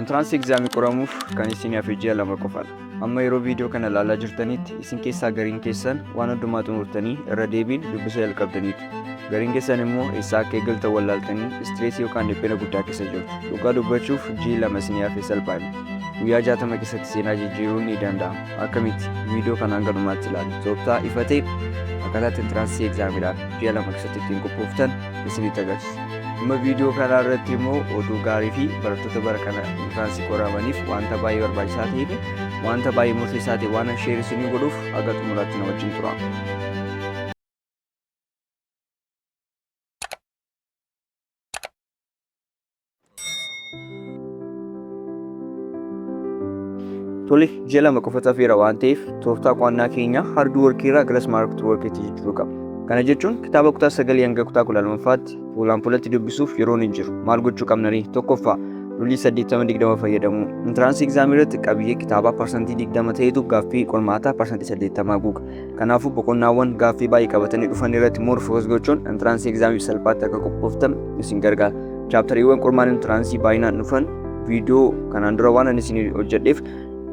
Entrance exam qoramuuf kan isin hafe ji'a lama qofadha. Amma yeroo viidiyoo kana ilaalaa jirtanitti isin keessaa gariin keessan waan hundumaa xumurtanii irra deebiin dubbisa jalqabdaniitu. Gariin keessan immoo eessaa akka eegaltan wallaaltanii istireesii yookaan dhiphina guddaa keessa jirtu. Dhugaa dubbachuuf ji'i lama isin hafe salphaadha. Guyyaa jaatama keessatti seenaa jijjiiruun ni danda'ama. Akkamitti? Viidiyoo kana hanga dhumaatti ilaali. Tooftaa ifa ta'e akkaataa itti entraansii egzaamiidhaaf ji'a lama keessatti ittiin qophooftan isinitti agarsiisa. Dhimma viidiyoo kanaa irratti immoo oduu gaarii fi barattoota bara kana intiraansii qoramaniif wanta baay'ee barbaachisaa ta'ee fi wanta baay'ee murteessaa ta'e waan sheer isinii godhuuf haga xumuraatti na wajjin tura. Tole ji'a lama qofa hafeera waan ta'eef tooftaa qo'annaa keenya harduu warqii irraa gara smart warqiitti jijjiiruu qabna. Kana jechuun kitaaba kutaa sagalii hanga kutaa kudha lammaffaatti fuulaan fuulatti dubbisuuf yeroon hin jiru. Maal gochuu qabna ree? Tokkoffaa rulii saddeettama digdama fayyadamuu. Intiraansii egzaamii irratti qabiyyee kitaabaa parsantii digdama ta'etu gaaffii qormaataa parsantii saddeettamaa guuga. Kanaafuu boqonnaawwan gaaffii baay'ee qabatanii dhufan irratti more focus gochuun entraansii egzaamiif salphaatti akka qophooftan isin gargaara. Chaaptariiwwan qormaata entraansii baay'inaan dhufan viidiyoo kanaan dura waan ani isin hojjedheef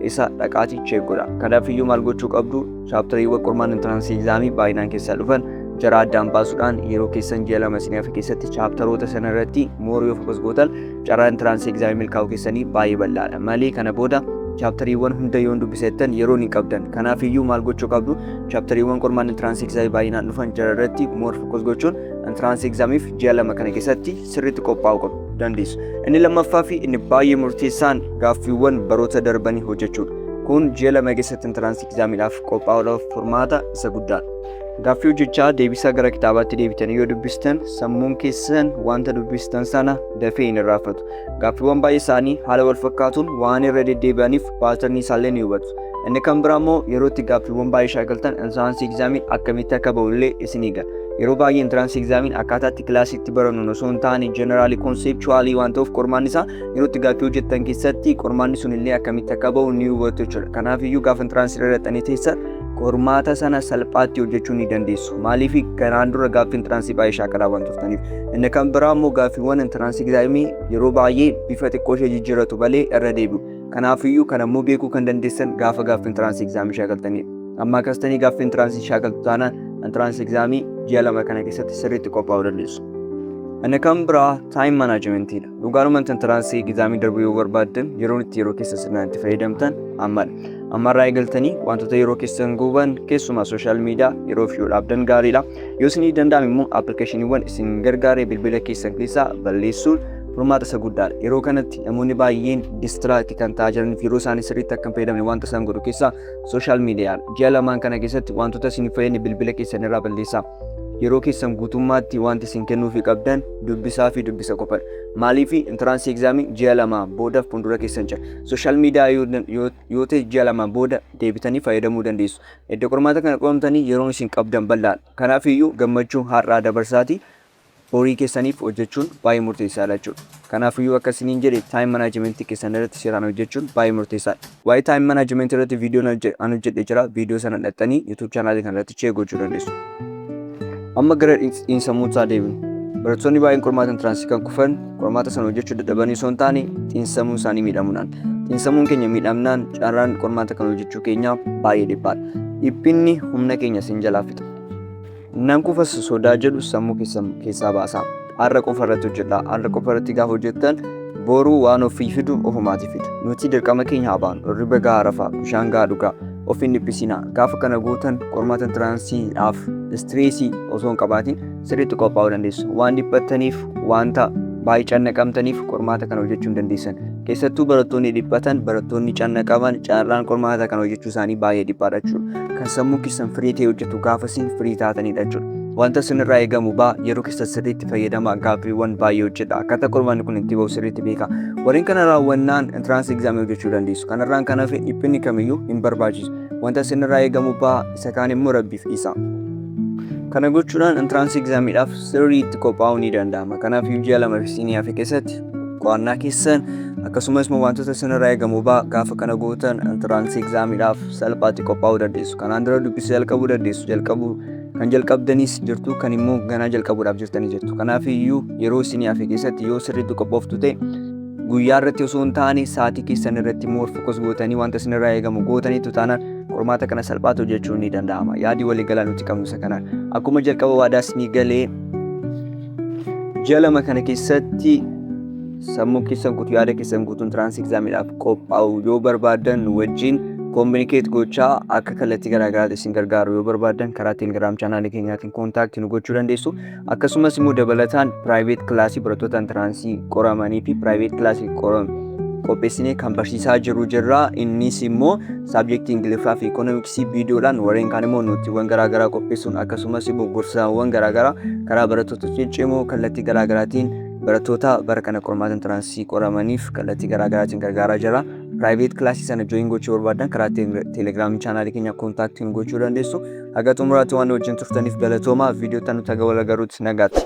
isa dhaqaatii cheek godha. Kanaaf iyyuu maal gochuu qabdu chaaptariiwwan qormaata entraansii egzaamii baay'inaan keessaa dhufan jara addaan baasuudhaan yeroo keessan ji'a lama isin hafe keessatti chaaptaroota sana irratti more yoo focus gootan Carraa intiraansii egzaamii milkaa'uu keessanii baay'ee bal'aadha. Malee kana booda chaaptariiwwan hunda yoon dubbisettan yeroon hin qabdan. Kanaaf iyyuu maal gochuu qabdu? Chaaptariiwwan qormaanni intiraansii egzaamii baay'inaan dhufan jara irratti moor fokkos gochuun intiraansii egzaamiif ji'a lama kana keessatti sirriitti qophaa'uu qabu dandeessu. Inni lammaffaa fi inni baay'ee murteessaan gaaffiiwwan baroota darbanii hojjechuudha. Kun ji'a lama keessatti intiraansii egzaamiidhaaf qophaa'uudhaaf furmaata isa guddaadha. Gaaffii hojjechaa deebisaa gara kitaabaatti deebitanii yoo dubbistan sammuun keessan wanta dubbistan sana dafee hin irraanfatu. Gaaffiiwwan baay'ee isaanii haala wal fakkaatuun waan irra deddeebi'aniif paatarnii isaallee ni hubatu. Inni kan biraa immoo yeroo itti gaaffiiwwan baay'ee shaakaltan intiraansii egzaamiin akkamitti akka ba'u illee isin eega. Yeroo baay'ee intiraansii egzaamiin akkaataa itti kilaasiitti barannuun osoo hin taane jeneraalii konseepchuwaalii waan ta'uuf qormaanni isaa yeroo itti gaaffii hojjettan keessatti qormaanni sun illee akkamitti akka ba'u ni hubatu jechuudha. Kanaaf iyyuu gaafa intiraansii irra dhaqxanii teessan qormaata sana salphaatti hojjechuu ni dandeessu. Maaliif kanaan dura gaaffii intiraansii baay'ee shaakala waan turtaniif. Inni kan biraa immoo gaaffiiwwan intiraansii egzaamii yeroo baay'ee bifa xiqqoo ishee jijjiiratu malee irra deebi'u. Kanaafiyyuu kan ammoo beekuu kan dandeessan gaafa gaaffii intiraansii egzaamii shaakaltanidha. Amma akkasitanii gaaffii intiraansii shaakaltu taanaan intiraansii egzaamii ji'a lama kana keessatti sirriitti qophaa'uu dandeessu. Inni kan biraa taayim manaajimentiidha. Dhugaadhumatti intaraansii egzaamii darbuu yoo barbaaddan yeroon itti yeroo keessa sirnaan itti fayyadamtan ammadha. Ammarraa eegaltanii wantoota yeroo keessan guban keessumaa sooshaal miidiyaa yeroof yoo dhaabdan gaariidha. Yoo isinii danda'ame immoo appilikeeshiniiwwan isin gargaaree bilbila keessan keessaa balleessuun furmaata isa guddaadha. Yeroo kanatti namoonni baay'een distiraakti kan ta'aa jiran fi yeroo isaanii sirriitti akka hin fayyadamne wanta isaan godhu keessaa sooshaal miidiyaadha. Ji'a lamaan kana keessatti wantoota isin hin fayyadne bilbila keessan irraa balleessaa. Yeroo keessan guutummaatti wanti isin kennuufi qabdan dubbisaa fi dubbisa qofadha. Maaliif intiraansii egzaamii ji'a lamaa booda fuuldura keessan jira. Sooshaal miidiyaa yoo, yoo, yoo ta'e ji'a lamaa booda deebitanii fayyadamuu dandeessu. Edda qormaata kana qunnamtanii yeroon isin qabdan bal'aadha. Kanaafiyyuu gammachuu har'aa dabarsaatii horii keessaniif hojjechuun baay'ee murteessaadha jechuudha. Kanaafiyyuu akka isiniin jedhe time management keessan irratti seeraan hojjechuun baay'ee murteessaadha. Waa'ee time management irratti viidiyoon an hojjedhe jira. Viidiyoo sana dhaxxanii YouTube channel kana irratti check gochuu dandeessu. Amma gara xiinsammuu isaa deebinu. Barattoonni baay'een qormaata intiransii kan kufan qormaata sana hojjechuu dadhabanii osoo hin taane xiinsammuu isaanii miidhamuudhaan. Xiinsammuun keenya miidhamnaan carraan qormaata kan hojjechuu keenyaa baay'ee dhiphaadha. Dhiphinni humna keenya sin jalaa fixa. Nan kufas sodaa jedhu sammuu keessan keessaa baasaa. Har'a qofa irratti hojjedha. Har'a qofa irratti gaafa hojjettan boruu waan ofii fidu ofumaati fidu. Nuti dirqama keenya haa baanu. Irriba gahaa rafaa, bishaan gahaa dhugaa, of hin dhiphisinaa. Gaafa kana gootan qormaata intiraansiidhaaf istireesii osoo hin qabaatiin sirriitti qophaa'uu dandeessu. Waan dhiphattaniif, wanta baay'ee cannaqamtaniif qormaata kana hojjechuu hin dandeessan. Keessattuu barattoonni dhiphatan, barattoonni canna qaban carraan qormaata kan hojjechuu isaanii baay'ee dhiphaadha jechuudha. Kan sammuu keessan firii ta'e hojjetu gaafa isin firii taatanidha jechuudha. Wanta isinirraa eegamu ba'a yeroo keessa sirriitti fayyadama gaaffiiwwan baay'ee hojjedha. Akkaataa qormaanni kun itti ba'u sirriitti beeka. Warreen kana raawwannaan entrance exam hojjechuu dandeessu. Kanarraan kan hafe dhiphinni kamiyyuu hin barbaachisu. Wanta isinirraa eegamu ba'a isa kaan immoo rabbiif dhiisa. Kana gochuudhaan entrance examidhaaf sirriitti qophaa'uu ni danda'ama. Kanaaf ji'a lama fi siinii hafe keessatti qo'annaa keessan akkasumas immoo wantoota isinirraa eegamu baa gaafa kana gootan intiraansii egzaamiidhaaf salphaatti qophaa'uu dandeessu kanaan dura dubbisa jalqabuu dandeessu jalqabuu kan jalqabdanis jirtu kan immoo ganaa jalqabuudhaaf jirtanii jirtu kanaaf iyyuu yeroo isinii hafe keessatti yoo sirriitti qophooftu ta'e guyyaa irratti osoo hin taane sa'aatii keessan irratti immoo fokus gootanii wanta isinirraa eegamu gootaniitu taanaan qormaata kana salphaatti hojjechuun ni danda'ama yaadi waliigalaa nuti qabnu isa kanaan akkuma jalqaba waadaa isinii galee Ji'a lama kana keessatti sammuu keessan guutuu yaada keessan guutuun tiraansii egzaamiidhaaf qophaa'u yoo barbaadan nu wajjin kominikeet gochaa akka kallattii garaagaraatti isin gargaaru yoo barbaadan karaa telegiraam chaanaalii keenyaatiin koontaaktii nu gochuu dandeessu akkasumas immoo dabalataan piraayiveet kilaasii barattoota intiraansii qoramanii fi piraayiveet kilaasii qoram qopheessinee kan barsiisaa jiru jirra innis immoo saabjektii ingiliffaa fi ikoonomiksii viidiyoodhaan warreen kaan immoo nootiiwwan garaagaraa qopheessuun akkasumas immoo gorsaawwan garaagaraa karaa barattoota ciccimoo kallattii garaagaraatiin barattoota bara kana qormaata intiraansii qoramaniif kallattii garaagaraatiin gargaaraa jira. Piraayiveet kilaasii sana jooyin gochuu barbaadan karaa teelegiraamii chaanaalii keenya kontaaktiin gochuu dandeessu. Haga xumuraatti waan wajjin turtaniif galatoomaa viidiyoo tan nuti haga wal agaruutti nagaatti.